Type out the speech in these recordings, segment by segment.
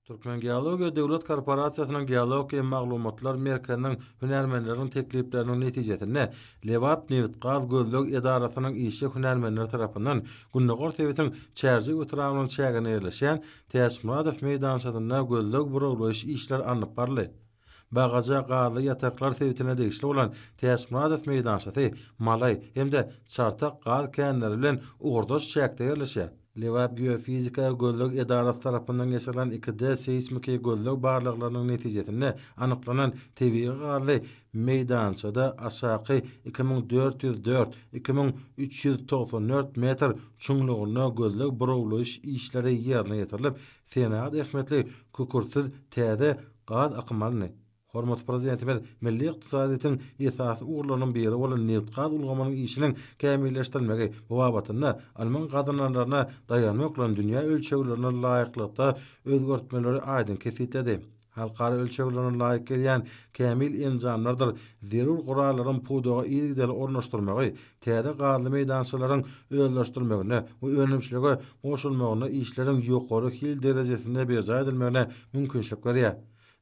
Türkmengeologiýa döwlet korporasiýasynyň Geologiýa maglumatlar merkeziniň hünärmenleriniň teklipleriniň netijesinde Lebapnewtgaz gözleg edarasynyň işçi hünärmenleri tarapyndan gündogar sebitiň Çärjew etrabynyň çäginde ýerleşýän Täçmyradow meýdançasynda gözleg-burawlaýyş işleri alnyp baryldy. Bagaja gazly ýataklar sebitine degişli bolan Täçmyradow meýdançasy, Malaý hem-de Çartak gaz känleri bilen ugurdaş çäkde ýerleşýär. Lebap geofizika gözleg edarasy tarapyndan geçirilen iki D seýsmiki gözleg barlaglarynyň netijesinde anyklanan tebigy gazly meýdançada aşaky iki müň dört ýüz dört, iki müň üç ýüz togsan dört metr çuňlugynda gözleg-burawlaýyş işleri ýerine ýetirilip, Senat ähmiýetli kükürtsiz täze gaz akymy aldy. Hormatly Prezidentimiz milli ykdysadyýetiň esasy ugurlarynyň biri bolan nebitgaz ulgamynyň işiniň kämilleşdirilmegi babatynda alman gazananlaryna daýanmak bilen dünýä ölçeglerine laýyklykda özgertmeleri aýdyň kesgitledi. Halkara ölçeglerine laýyk gelýän kämil enjamlardyr zerur gurallaryň pudaga yzygiderli ornaşdyrmagy täze gazly meýdançalaryň özleşdirilmegine we önümçilige goşulmagyna işleriň ýokary hil derejesinde berjaý edilmegine mümkinçilik berýär.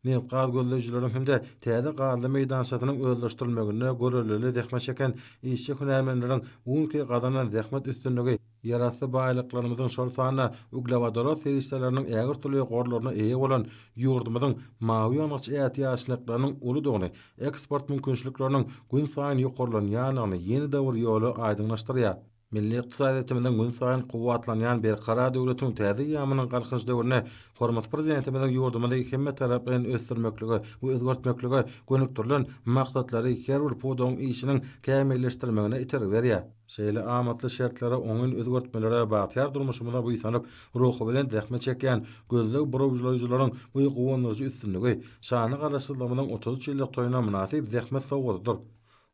Nebitgaz gözleýjileriň hem-de täze gazly meýdançasynyň özleşdirilmeginde görellili zähmet çeken işçi-hünärmenleriň bu günki gazanan zähmet üstünligi Ýerasty baýlyklarymyzyň, şol sanda uglewodorod serişdeleriniň ägirt uly gorlaryna eýe bolan ýurdumyzyň mawy ýangyç ätiýaçlyklarynyň uludygyny, eksport mümkinçilikleriniň günsaýyn ýokarlanýandygyny ýene dowr ýoly aýdyňlaşdyrýar. Milli ykdysadyýetimiziň günsaýyn kuwwatlanýan berkarar döwletiň täze eýýamynyň Galkynyş döwründe hormatly Prezidentimiziň ýurdumyzy hemmetaraplaýyn ösdürmeklige we özgertmeklige gönükdirilen maksatlary her bir pudagyň işiniň kämilleşdirmegine itergi berýär. Şeýle amatly şertlere, oňyn özgertmelere bagtyýar durmuşymyza buýsanyp, ruhubelent zähmet çekýän gözleg burawjylaýjylaryň bu guwandyryjy üstünligi şanly Garaşsyzlygymyzyň otuz üç ýyllyk toýuna mynasyp zähmet sowgadydyr.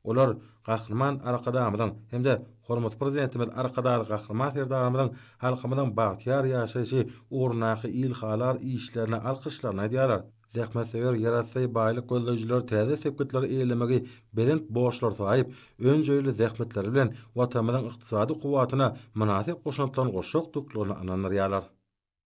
Olar Gahryman Arkadagymyzyň hem-de hormatly Prezidentimiz Arkadagly Gahryman Serdarymyzyň halkymyzyň bagtyýar ýaşaýşy ugrundaky ilhalar işlerine alkyşlaryny aýdýarlar. Zähmetsöýer ýerasty baýlyk gözleýjiler täze sepgitleri eýelemegi belent borçlar saýyp, önjeýli zähmetleri bilen Watanymyzyň ykdysady kuwwatyna mynasyp goşantlaryny goşjakdyklaryna ynandyrýarlar.